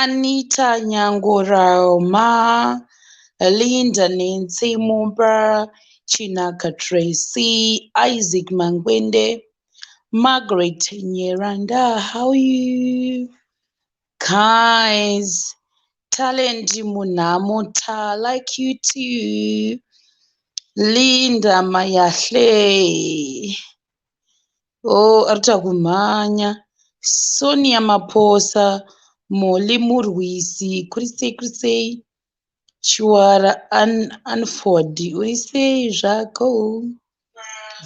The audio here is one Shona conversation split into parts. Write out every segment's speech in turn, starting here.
Anita Nyangurawo ma Linda Nancy Mumba Chinaka Tracy Isaac Mangwende Margaret Nyeranda how you guys Talent Munhamo ta like you too Linda Mayahle Oh, arita kumhanya. Sonia Maposa, Molly Murwisi, kurisei kurisei. Chiwara An Anford, urisei zvako.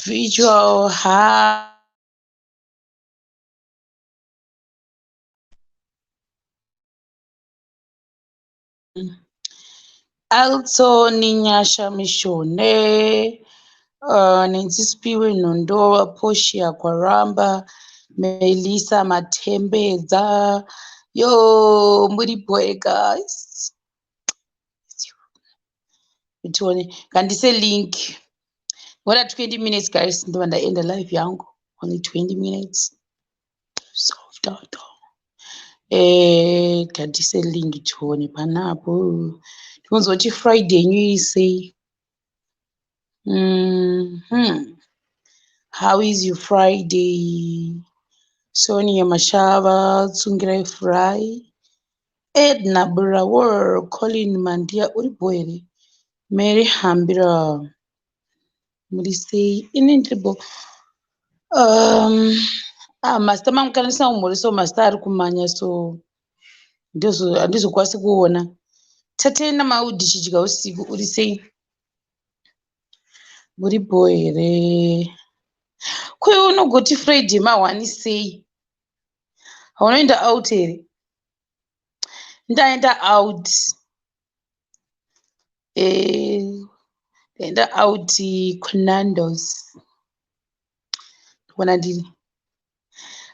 Visual ha. Also Ninyasha Mishone, uh, Nenzisipiwe Nondoa, Portia Kwaramba, Melissa Matembedza. Yo, muri boy guys. Tione, kandise link. Ngoda 20 minutes guys, ndiba ndaenda live yangu. Only 20 minutes. Toto. Eh, tadise link tione panapo. Tinozoti Friday yenyu isei. Mm -hmm. How is your Friday? Sonia Mashava, Tsungirai Fry, Edna Burawar, Colin Mandia, uri boere? Mary Hambira. murisei ini ndiribo um, ah, mazita mangu kana ndisina kumhuri so mazita ari kumanya so handizokwanisi kuona tatei namaudi chidya usiku uri sei muri bho here kuyo unogoti friday mahwani sei haunoenda out here ndaenda out Eh, enda out kunandos kuona ndini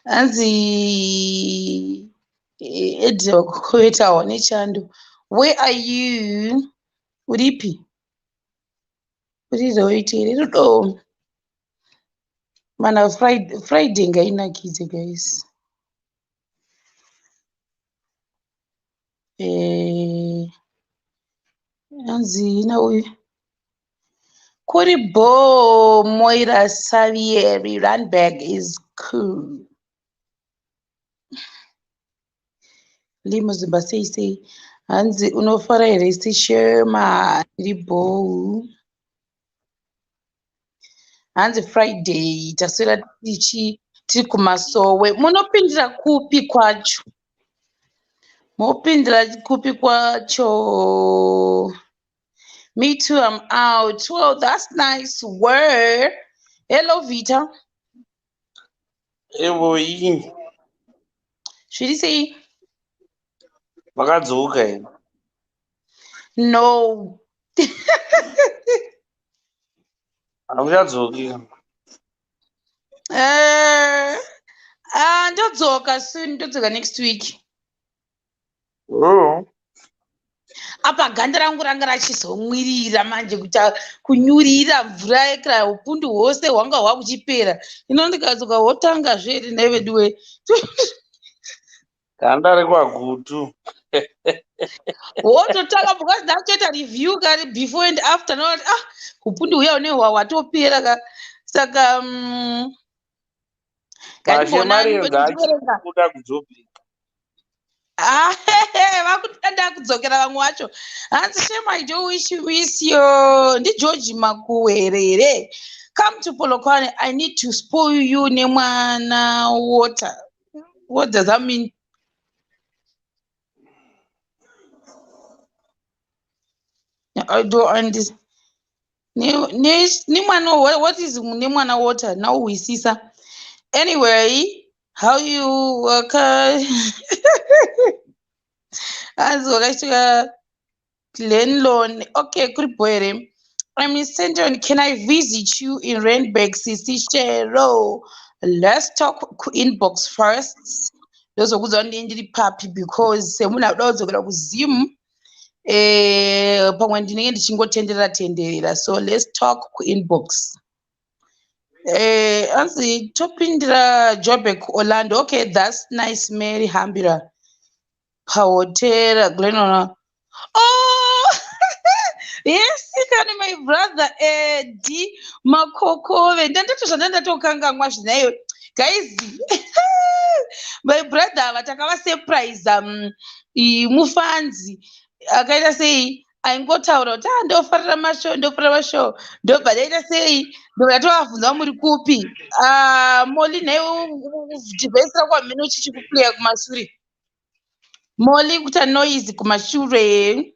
hanzi eh, edza kukoetawo nechando where are you uripi uriroiti here rudo mana friday, friday ngainakidze guys Eh, anzi ina uyu kuri bo moira savieri runberg is cool limuzimba sei sei hanzi unofara here sishema iri bhou hanzi friday taswera tichi tiri kumasowe munopindira kupi kwacho mopindira kupi kwacho me too am out well that's nice word hello vita Evoyi. Zviri sei? Makadzoka here? No. Hamuchadzoki. Eh, ah, ndodzoka soon, ndodzoka next week. oh. apa ganda rangu ranga rachizomwirira manje kuti kunyurira mvura yekra upundu hwose hwanga hwakuchipera ino ndikadzoka hotanga zveri nhai veduwe ganda rekwagutu wototanga because ndakutoita review kari before and after noti ah upundu huya une hwawatopera ka saka um, vakutanda kudzokera vamwe wacho hanzi shema i do wish you wish yo ndigeorge makuwe here here come to polokwane i need to spoil you nemwana water what does that mean i do understand nemwana what is nemwana water nauhwisisa anyway how you waka hanzi wakachitika glenlon okay kuri bho here I'm in Central. Can I visit you in Randburg, Sisi Shero? Let's talk inbox first. Those who don't need papi because someone out there could have Zoom. eh, pamwe ndinenge ndichingotenderera tenderera so let's talk kuinbox eh, anzi topindira jobek orlando okay thats nice mary hambira pahotera glenona oh! yes kani my brother edi makokove ndandato zvandandatokangangwa zvinayo guys my brother ava takavasurprise um, mufanzi akaita sei aingotaura kuti ah ndofarira mashow ndofarira mashow ndobva ndaita sei ndokatoavhunza muri kupi ah, moli nhai device rako hamene uchichikuplaya kumashure moli kuita noise kumashure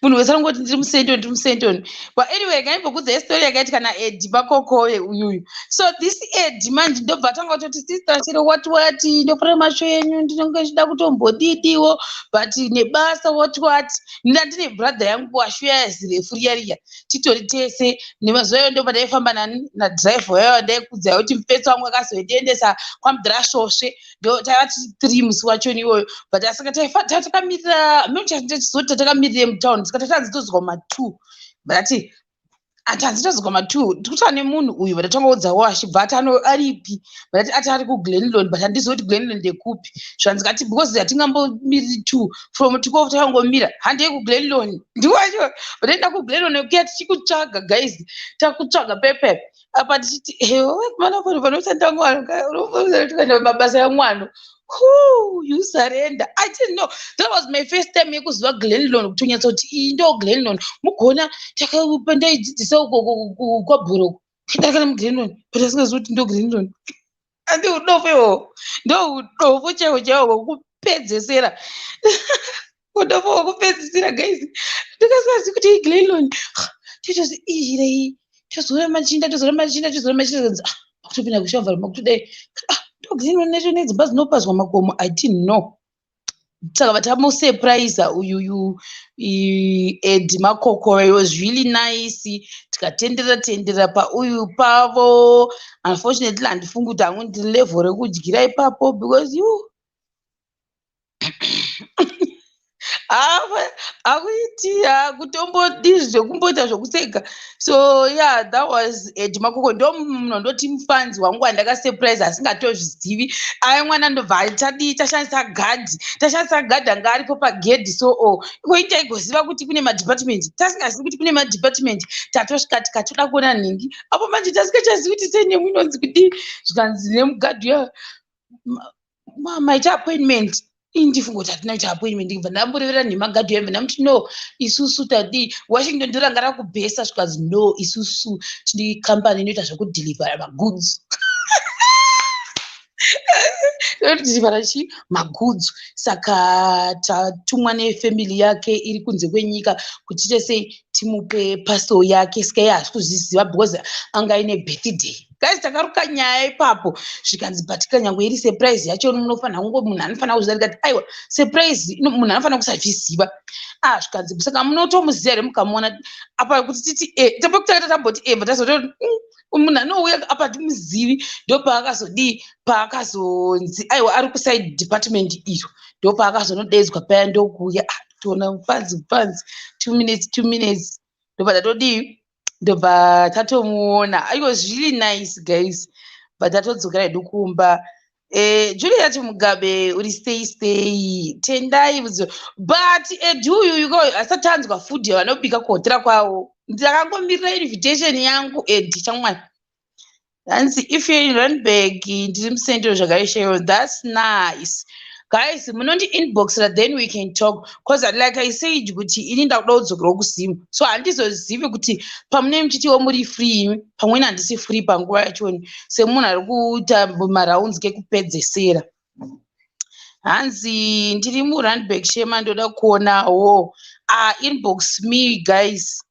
munhu wese anongoti ndiri musentoni ndiri musentoni but anyway ngaimbokuudza yestori yakaitika naedi pakokoye uyuyu so this edi manje ndobva atanga kutoti sister chero what what ndofura masho enyu ndinonge ndichida kutombodidiwo but nebasa what what nda ndine brother yangu washo yazirefu riya riya titori tese nemazuva iyoyo ndobva ndaifamba nadriver yayo ndaikudza yoti mupetsi wangu akazoendiendesa kwamdhirashosve ndo taiva tiri three musi wachoni iwoyo but asika takamirira mechazoti tatakamirire mutown sika tatanzi tozwa matwo but ati ati hanzi tozwa matwo tikutwa nemunhu uyu but atongoudzawo achibva ati aripi but ati ati ari kuglenlon but handizivi kuti glenlon ndekupi zvanzi kati because hatingambomiriri two from tikovo takangomira handei kuglenlon ndiwacho but enda kuglenlon kuya tichikutsvaga guys takutsvaga pepepe apa tichiti ewe kumana kwanhu panoshanda mwano unoenda mabasa yamwano Whoo, you surrender. I didn't know. That was my first time yekuziva Glenlon kuti unyatsoti iyi ndo Glenlon. Mugona ndaidzidzisa uko kwabhuro. Ndakana muGlenlon, but asingazivi kuti ndo Glenlon. andi udofo ihoho ndo udofo chaiwo chaiwo hwekupedzesera udofo hwekupedzisira guys ndikasingazi kuti iglenlon totozi iirei tozora machinda tozora machinda tozora machinda kanzi ah makutopinda kushamva makutodai ah ndoglenlon nacho nedzimba dzinopazwa makomo i didn't know takabva tamusurprise uyuyu ed makokoro it was really nice tikatenderera tenderera pauyu pavo unfortunately handifungi kuti hangu ndiri level rekudyira ipapo because you akuiti akutombodii zvekumboita zvekuseka so yeah that was ed makoko ndo munhu ndoti mufans wangu wandakasurprise asingatozvizivi ave mwana ndobva atadii tashandisa gadhi tashandisa gadhi anga aripo pagedhi so o oh, ikoi taigoziva kuti kune madepartment tasingazivi kuti kune madepartment tatosvika tikatoda kuona nhingi apo manje tasikachazivi kuti sei nemwinonzi kudii zvikanzi nemugadhi uya mama ita appointment ini ndifunga kuti hatina kuita appointment ndibva ndamborevera nhema gadhi yambe ndamuti no isusu tadii washington ndoranga rakubhesa zvikanzi no isusu tine company inoita zvekudhilivhara magoods inotidzivara chi magoods saka tatumwa nefamily yake iri kunze kwenyika kuti tiite sei timupe pasel yake sika iye haasi kuzviziva because anga aine birthday guys takaruka nyaya ipapo zvikanzi but kanyangwe iri surprise yacho munofanira kungo munhu anofanira kuziva ndikati aiwa surprise munhu anofanira kusazviziva ah zvikanzi saka munotomuziva here mukamuona apa kuti titi e eh, tapo kutanga tamboti e eh, but azoto mm, munhu anouya apa timuzivi ndopaakazodii paakazonzi aiwa ari kuside department iyo ndopaakazonodedzwa paya ndokuuya ah, toona mufanzi mufanzi two minutes two minutes ndopa tatodii ndobva tatomuona it was really nice guys but tatodzokera hedu kumba eh, juliet mugabe uri stay stay tendai vudzo but edu uyu yuko asati anzwa food yavanobika kuhotera kwavo ndakangomirira invitation yangu edi chamwari hanzi if you're in randburg ndiri mucentral zvakaishaiwa thats nice guys munondi inboxera then we can talk bcause like i said kuti ini ndakuda kudzokera kuzimu so handizozivi kuti pamune muchitiwo muri free imi pamweni handisi free panguva yachoni semunhu ari kuita marounds kekupedzesera hanzi ndiri murandburg shema ndoda kuonawo ah, inbox me guys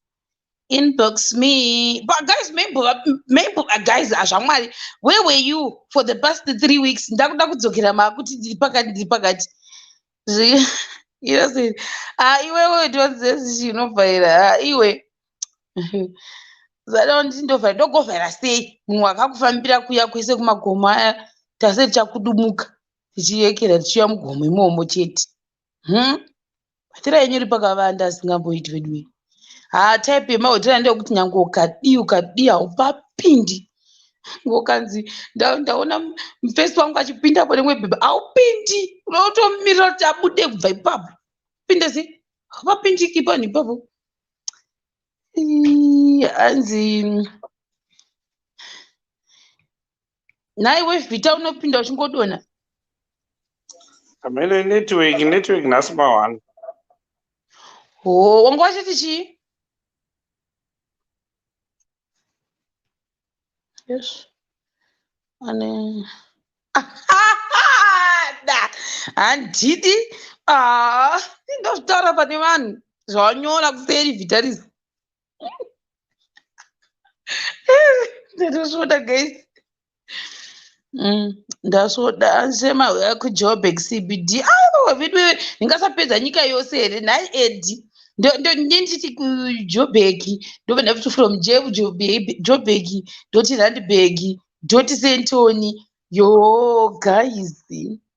inbox me but guys maybe maybe uh, guys azvamwari uh, where were you for the past three weeks ndakuda kudzokera makuti ndiri pakati ndiri pakati iwe ah, iwewe tonzezi chinovhaira ah, iwe zada nditi ndovhaira ndogovhaira sei munhu wakakufambira kuya kwese kumagomo aya tase tichakudumuka tichiyekera tichiya mugomo imomo chete hmm? hotera yenyu iri pakavanda asingamboiti veduwe haa type yemahotera ndeyekuti nyange ukadii ukadii haupapindi ngokanzi ndaona mufesi wangu achipinda pane mwe bhebha haupindi unotomirira kuti abude kubva ipapo pinde se hapapindiki panhu ipapo hanzi nhai wevhita unopinda uchingodona amene network network nhasi mawani ho wanga wachiti chii yes ane da handidi ah, ndozvitaura pane vanhu zvawanyora kuseri vhita rizi ndatosoda guys mm, ndasoda ansema uya kujoburg cbd aiwa vedu ndingasapedza nyika yose here nhai edi ndondichiti kujoburg ndobva ndakuti from joburg ndoti randburg ndoti sentoni yoo guys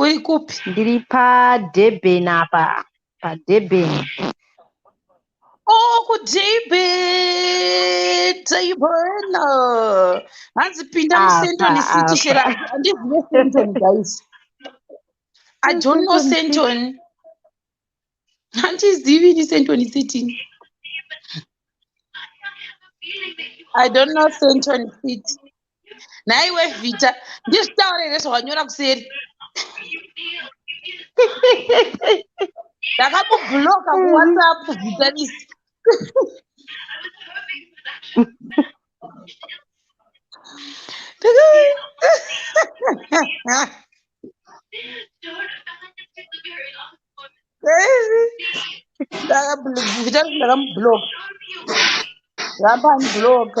uri kupi ndiri padurban apa padurban okudibhidzaibhona hanzi pinda musentoni city shera andizive sentoni guys i don't know sentoni handizivi ini sentoni sitini i don't know sentoni siti nhaiwe vhita ndizvitaure here zvawanyora kuseri ndakakubhuloka kuwhatsapp vhitanisi ndakamublock ramba aniblock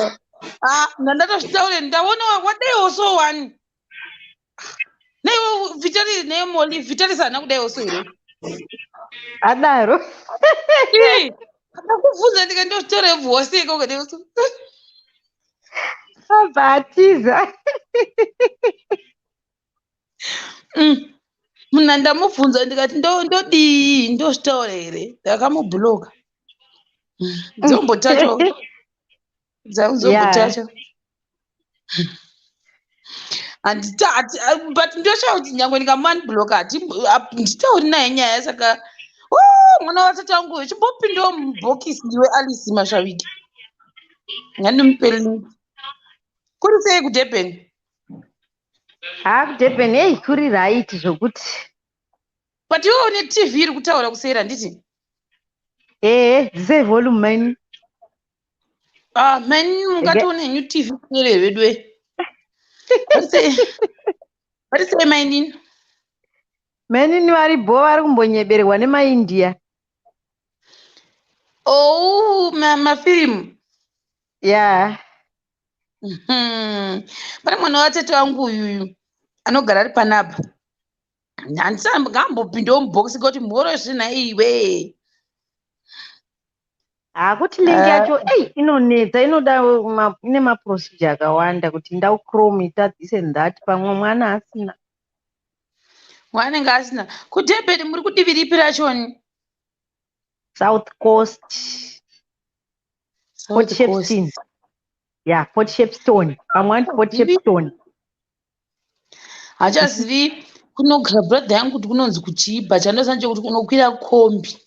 ah, ndandatozvitaure ndaona wadaiwo so one naiwo vitari naye moli vitari sana kudaiwo so here adaro ndakubvunza ndika ndozvitaure vose ikoko daiwo so abva atiza mm. muna ndamubvunza ndikati ndodii ndozvitaura here ndakamubloka mm. dzombotacho dzamuzombotacho handitaati but ndoshaa kuti nyange ndikamanbloka handitauri naye nyaya saka mwana vatata wangu chimbopindawo mubhokisi ndiwe alice mashaviki ngandimupelini kuri sei kudurban haa kudurban heyi kuri right zvokuti but iwe une tv iri kutaura kuseri handiti ehe dzisei volume maini ah maini mungatoone henyu tv kuseri hevedue varisei mainini mainini vari bho vari kumbonyeberwa nemaindia ou oh, mafirimu ya yeah. Hmm. pane mwana watete vangu uyuyu anogara ari panapa handisangambopindewo mubhokisi kuti mhoro zvina iwe hakuti link eh. yacho ei inonetsa inoda ine maprocedure akawanda kuti ndau chrome ita this and that pamwe mwana asina mwanenge asina kudebet muri kudivi ripi rachoni south coast port shepston ya port shepston pamwe vanoti port shepston hachazivi kunogara brother yangu kuti kunonzi kuchiibha chandoziva nje kuti unokwira kombi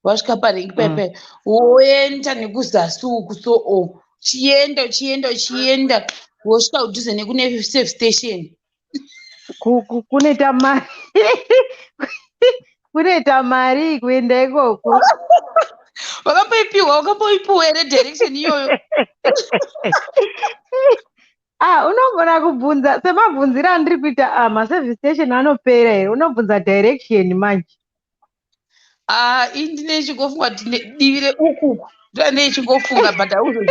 wasvika parengi mm. pepe woenda nekuzasi uku so o chienda uchienda uchienda wosvika kudhuze nekune safe station kuneta mari kuneta mari kuenda ikoko wakamboipiwa wakamboipiwa here direction iyoyo ah unogona kubvunza semabvunziro andiri kuita ah maservice station anopera here unobvunza direction manje ah i ndine ichingofunga kuti divi reukuku ndoa ndeichingofuna but auzoi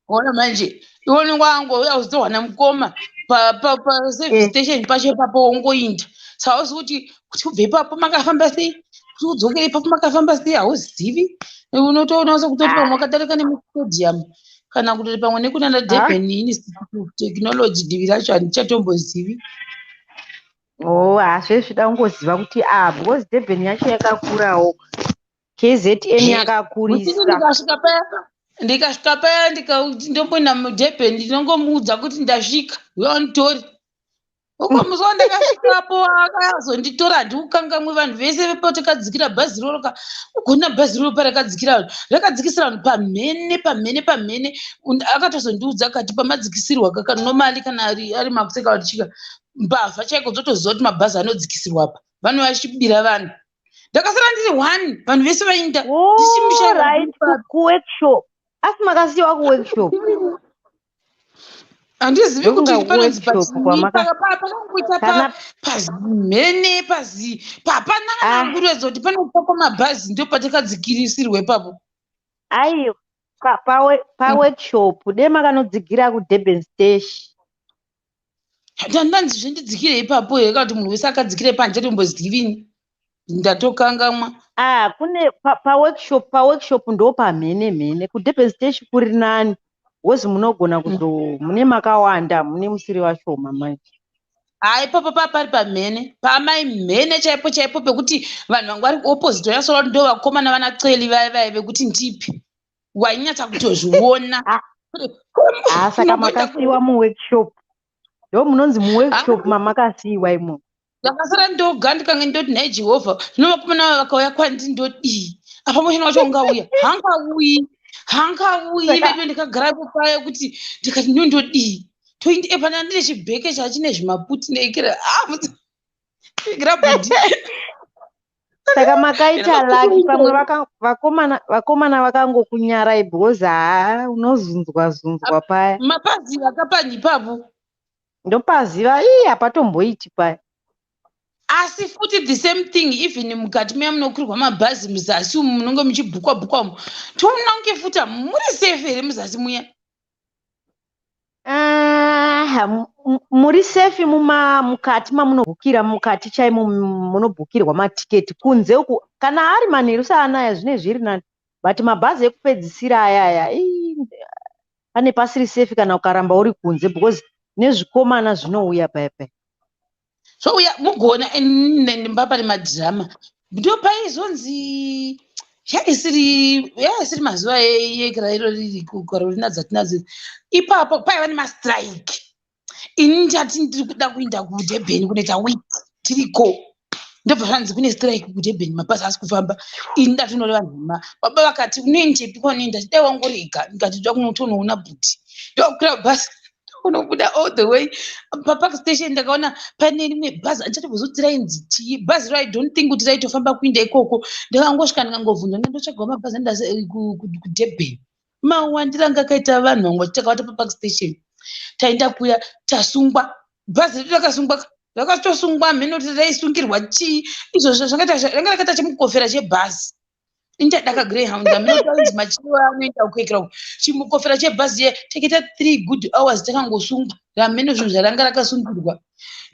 Ona manje iwoni wangu uya uzowana mukoma paservice eh. station pacho ipapo wongoinda so hauzi kuti kuti ubve ipapo makafamba sei kuti udzokere ipapo makafamba sei hauzivi unotoona se kutoti pamwe wakadarika nemustadium kana kutoti pamwe nekunana ah. durban institute of technology divi racho handichatombozivi o oh, hazve zvida kungoziva kuti a ah, because durban yacho yakakurawo KZN yakakurisa. Ndikasvika paya ndikasvika paya ndomboenda mudurban ndinongomuudza kuti ndasvika uya unditori ukamuziva ndakasvikapo akazonditora handiukangamwe vanhu vese vepo takadzikira bhazi roro ka ugona bhazi roro parakadzikira vanhu rakadzikisira vanhu pamhene pamhene pamhene akatozondiudza kati pamadzikisirwa kaka nomali kana ari makuseka vatichika mbavha chaiko dzotoziva kuti mabhazi anodzikisirwa apa vanova vachibira vanhu ndakasara ndiri one vanhu vese vainda kuworkshop asi makasiyiwa kuworkshop handizivi kuti panopakapaapakuita pazimhene pazi papana kana ah. anguruedza kuti panopakwa mabhazi ndo patakadzikirisirwe papo aiyo paworkshop dema kanodzigira kudurban stash tandanzi zvendidzikire ipapo here kana kuti munhu wese akadzikire panze tombozivini ndatokangamwa ah kune paworkshop pa paworkshop ndo pamhene mhene kudurban station kuri nani wezi munogona mm. kuzo mune makawanda mune musiri vashoma manje haa ipapo paa pari pamhene paamai mhene chaipo chaipo pekuti vanhu vanga vari kuopposite vayasola kuti ndo vakomana vana celi vaya vaya vekuti ndipi wainyatsa kutozviona ah, saka makasiiwa muworkshop ndo munonzi muworkshop ah. mamakasiiwa imo ndakasara ndoga ndikange ndoti nhai jehovha zvino vakomana va vakauya kwandi ndodii apa mushana wacho ungauya hangauyi hangauyi veduve ndikagara kupaya kuti ndikati nyo ndodii toindi epana ndine chibheke chachine zvimaputi neikira ah, ikira budi saka makaita laki pamwe vakomana vakomana vakangokunyarai because haa unozunzwa zunzwa paya mapaziva kapanyi papo ndopaziva ii hapatomboiti paya asi futi the same thing even mukati meya munokwirwa mabhazi muzasi umu munonge muchibhukwa bhukwa umu toona kunge futi muri safe here muzasi muya Ah, muri safe muma mukati mamunobhukira mukati chaimo munobhukirwa matiketi kunze uku kana ari manheru saanaya zvine zviri nani but mabhazi ekupedzisira ayaya pane pasiri safe kana ukaramba uri kunze because nezvikomana zvinouya paipai so uya mugoona mbapa nemadhirama ndo paizonzi yaisiri yaisiri mazuva ekirairo riri kukarolina dzatinadzo ipapo paiva nemastrike ini ndati ndiri kuda kuenda kudebheni kunoita wit tiriko ndobva zvanzi kune strike kudebheni mabhazi asi kufamba ini ndatonore vanhu vema baba vakati unoendepi kwanoenda dai wangorega ndikati ndoda kunotonoona bhuti ndokukwira bhazi unobuda all the way papark station ndakaona pane rimwe bhazi andisati kuzokuti rainzi chii bhazi ro i don't think kuti raitofamba kuinda ikoko ndakangosvika ndikangobvunza nda ndotsvagawo mabhazi anida eh, kudurban mawandira anga akaita vanhu vanga titakawata papark station taenda kuya tasungwa bhazi redu rakasungwa rakatosungwa mheno kuti raisungirwa chii izvozvo zvanga rakatacha mukofera chebhazi inchadaka greyhound aminotainzi machiro anoenda kuekera chimukofera chebhazi ye teketa three good hours takangosungwa ramheno zvinhu zvaranga rakasungirwa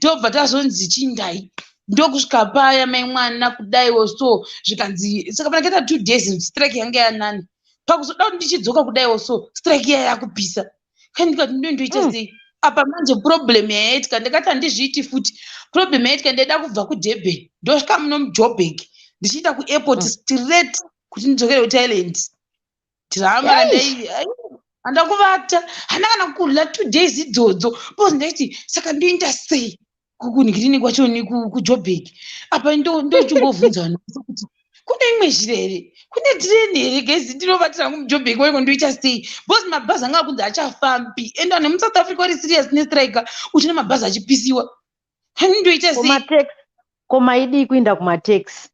tobva tazonzi chindai ndokusvika paya mai mwana kudai oso zvikanzi saka panakaita two days strike yange yanani pakuzoda kuti ndichidzoka kudai oso strike iya yakupisa kani ndikati ndo ndoita mm. sei apa manje problem yaiitika ndakati handizviiti futi problem yaiitika ndaida kubva kudurban ndosvika muno mujobek ndichiita kuairport mm. straight kuti ndidzokere kuthailand drama randai handa kuvata hana kana kurla two days idzodzo bcause ndaiti saka ndoinda sei kungirini kwacho nekujobek apa ndochingovhunza vanhu vese kuti kune imwe zhira here kune tireni here gezi ndinovatira hangu mujobek waiko ndoita sei bcause mabhazi anga akunzi achafambi and vanhu vemusouth africa vari serious nestrike uchina mabhazi achipisiwa hangu ndoita sei ko maidii kuinda kumataxi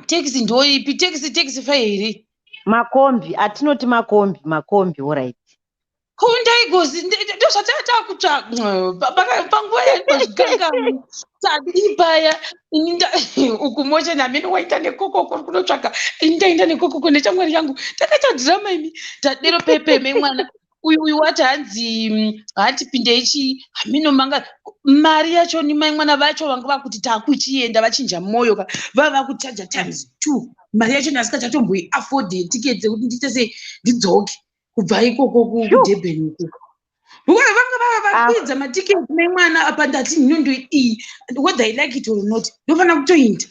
taxi ndoipi taxi taxi fa here makombi atinoti makombi makombi orit ko ndaigozi ndozvatatakutsvaga panguva yaigozvikangamu tadii paya ini uku moshe namene waita nekokoko ri kunotsvaga ini ndaenda nekokoko nechamwari yangu takatadhirama imi tadero pepeme mwana uyu uyu wati hanzi hati pindei chii hamino manga mari yacho ni mai mwana vacho vanga vakuti takuchienda vachinja moyo ka vava vakuchaja times two mari yacho ndasika chatomboi afford ticket dzekuti ndiite sei ndidzoke kubva ikoko kudurban ikoko vona vanga vava vakwidza ah. matiketi mai mwana apa ndati nhinondo iyi whether i like it or not ndofanira kutoinda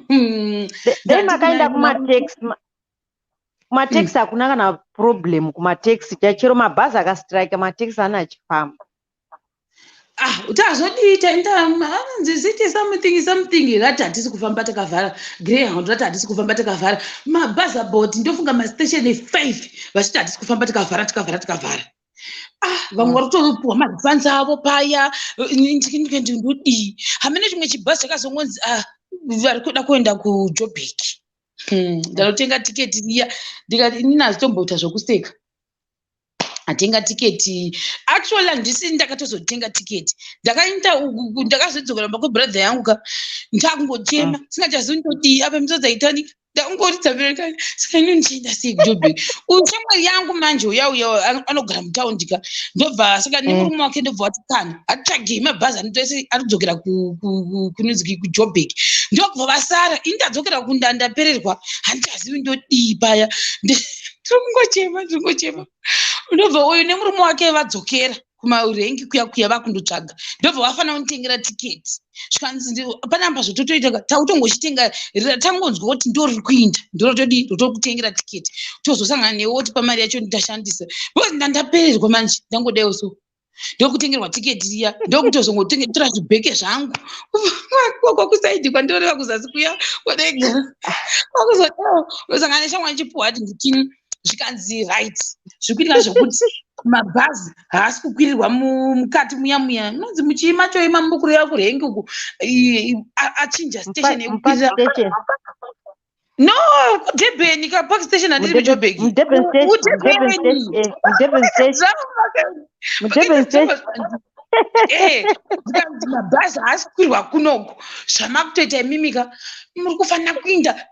hmm. dai makaenda kumatax kumateksi hakuna kana problem kumateksi chachero mabhazi akastrike mateksi ana achifamba ah tazodii taitaanziziti something something rati hatisi kufamba takavhara greyhound rati hatisi kufamba takavhara mabhazi about ndofunga mastation five vachiti hatisi kufamba takavhara takavhara takavhara ah vamwe mm. vari kutopuwa marefunds avo paya ndodii hamene chimwe chibhazi chakazongonzi ah vari kuda kuenda kujobheki Hmm, ndanotenga tiketi riya ndikati inini hazitomboita zvokuseka atenga tiketi actually handisi ndakatozotenga tiketi ndakaita ndakazodzokera mba kwebrother yangu ka ndakungochema ah. singachazivi ndodii apa misodzaitani ndakungoridza bereka saka ini ndichienda sei kujobe uyu shamwari yangu manje uyauya anogara mutaundi ka ndobva saka nemurume mm. wake ndobva wati kana atsvagei mabhazi anoita ese anodzokera kunonzi kujobek ndokubva vasara ini ndadzokera kunda ndapererwa handichazivi ndodii paya tiri kungochema tiri kungochema ndobva uyu nemurume wake vadzokera kumarengi kuya kuya vakundotsvaga ndobva vafanira kunditengera tiketi zvikanzi panamba zvototoita tautongochitenga tangonzwa kuti ndoriri kuinda ndorotodi rotokutengera tiketi tozosangana newe woti pamari yacho ndashandisa because ndandapererwa manje ndangodaiwo so ndokutengerwa tiketi riya ndokutozongotora zvibheke zvangu kwakwa kusaidi kwandinoreva kuzasi kuya kwadaigara kwakuzodawo ndosangana neshamwa ndichipuwa ati nditini zvikanzi right zvikuitika zvokuti mabhazi haasi kukwirirwa mukati muya muya nonzi muchiima choima mukureva kurhengi uku achinja station yekukwirira No, kuDurban ka park station handiri muJoburg. Mudurban station. Mudurban Mudurban station. eh, Mudurban station. Mudurban station. Eh, zvikanzi mabhazi haasi kukwirwa kunoku zvamakutoita imimika muri kufanira kuinda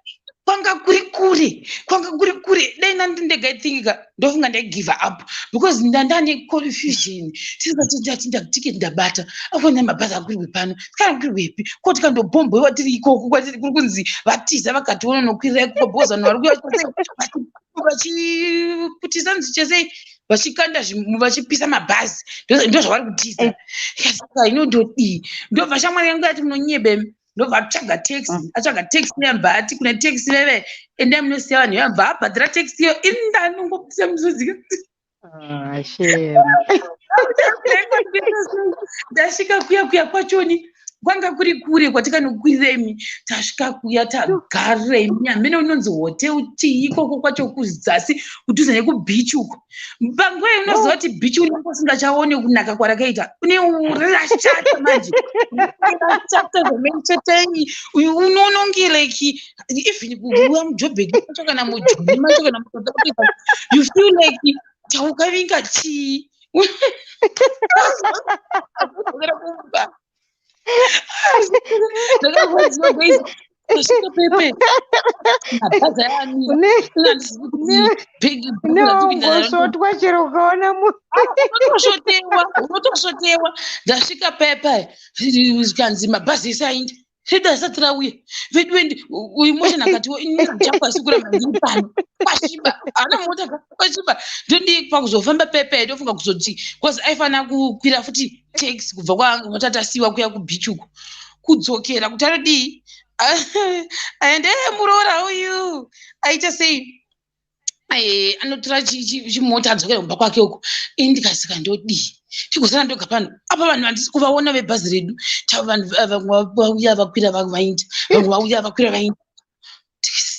kwanga kuri kure kwanga kuri kure dai nandi ndega ithingi ka ndofunga ndaigive up because ndandane confusion tisatindati ndakutike ndabata akuona mabhazi akurwe pano kana kurwe pi koti kandobhombwe vatiri ikoko kwatiri kuri kunzi vatiza vakationa nokwirira ikuko bhozi vanhu vari kuyavachiputisa nzi chesei vachikanda vachipisa mabhazi ndozvavari kutiza eh. saka inondodii ndobva shamwari yangu yati munonyebemi ndobva atsvaga taxi mm. atsvaga taxi yabva ati kuna taxi veve endai munosiya vanhu yabva abhadhira taxi iyo ini ndanongopisa muzozika ah, ndasvika kuya kuya kwachoni kwanga kuri kure kwatikanokwirira imi tasvika kuya tagarira imi amene unonzi hotel chii ikoko kwacho kuzasi kudhuze nekubeach uko panguva inoziva kuti bichi unenge usingachaone kunaka kwarakaita une rashata manje rashata zvamaichatanyi uyu unononge like even kuuya mujobheki macho kana mujuni macho kana muaa you feel like chaukavinga chii neongosvotwa chero ukaona munosvotewa unotosvotewa ndasvika pepe zvikanzi mabhazi ese aindi zvida asati rauye vedu endi uyu mosha nakatiwo iniachakwasi kuramba ndiri pano kwasviba haana mota kwasviba ndondii pakuzofamba pepe ndofunga kuzoti bcause aifanira kukwira futi takes kubva kwaanga kwatatasiwa kuya kubeach uko kudzokera kuti anodii aende eh, muroora uyu aita sei eh, anotora chimota adzokera kumba kwake uko ini ndikasika ndodii tigosana ndoga pano apa vanhu vandisi kuvaona vebhazi redu tava vanhu eh, vauya vakwira vainda vamwe vauya vakwira vainda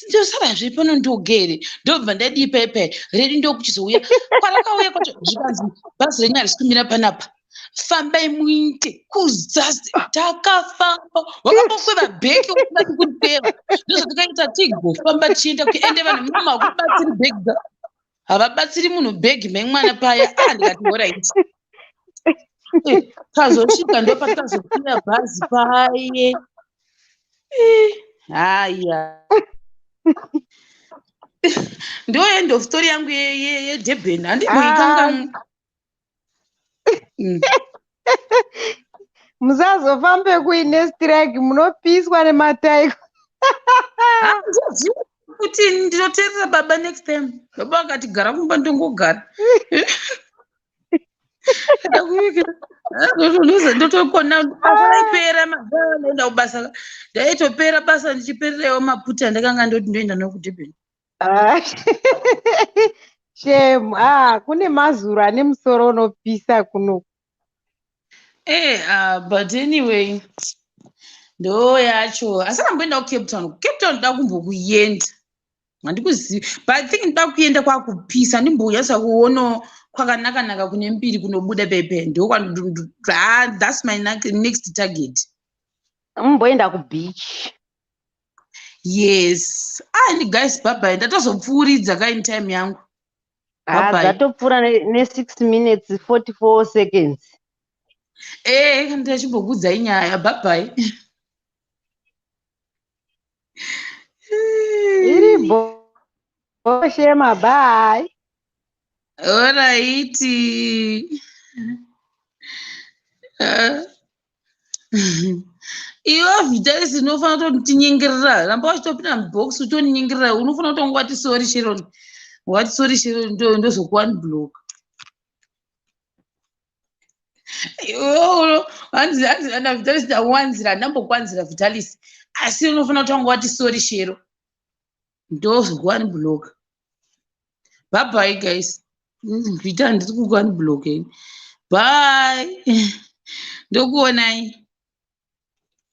ndosara zviri pano ndogere ndobva ndadii paye paye redi ndokuchizouya kwarakauya kwacho zvikanzi bhazi renyu harisi kumira panapa fambai muite kuzasi takafamba wakabokweva bheki ukubati kuripeva ndozvatikaita tigofamba tichienda kuende vanhu mama kubatsiri bheki havabatsiri munhu bag memwana paya ah ndikati horit eh, tazosvika ndopatazokwira bhazi paye eh, haya ndo end of story yangu yedurban handimboikangamwe ah. mm. musazofambe kuine strike munopiswa nemataiko kuti ndinoteerera baba next time baba vakati gara kumba ndongogara ndotokona aipera mazaanoenda kubasa ndaitopera basa ndichipererewo maputa ndakanga ndoti ndoenda nokudurban Ah, Shame. Ah, kune mazuro ane musoro unopisa kuno. Eh, ah, but anyway ndo yacho asi ramboenda kucape town kucape town ndoda kumbokuenda handikuzivi but i think ndoda kuenda kwakupisa ndimbouya sakuono kwakanakanaka kune mbiri kunobuda pepe ndokwaa thats my na- next target Mumboenda kubeach. yes ah ini guys bhabhai ndatozopfuuridza ka in time yangu Ah, Bye-bye. dzatopfuura ne- ne six minutes 44 seconds ee ndachimbokuudzai nyaya bhabhai iri boshema bye oraiti iwe vitalis unofanira kuti ndinyengerera ramba wachitopinda mubox utoninyengerera unofanira kutanga wati sori sheron wati sori sheron ndozokuwani block vitalis ndawanzira ndambokwanzira vitalis asi unofanira kutanga wati sori shero ndozvikuwani block bhabhai guys ndita ndiri kukuwani block bye ndokuonai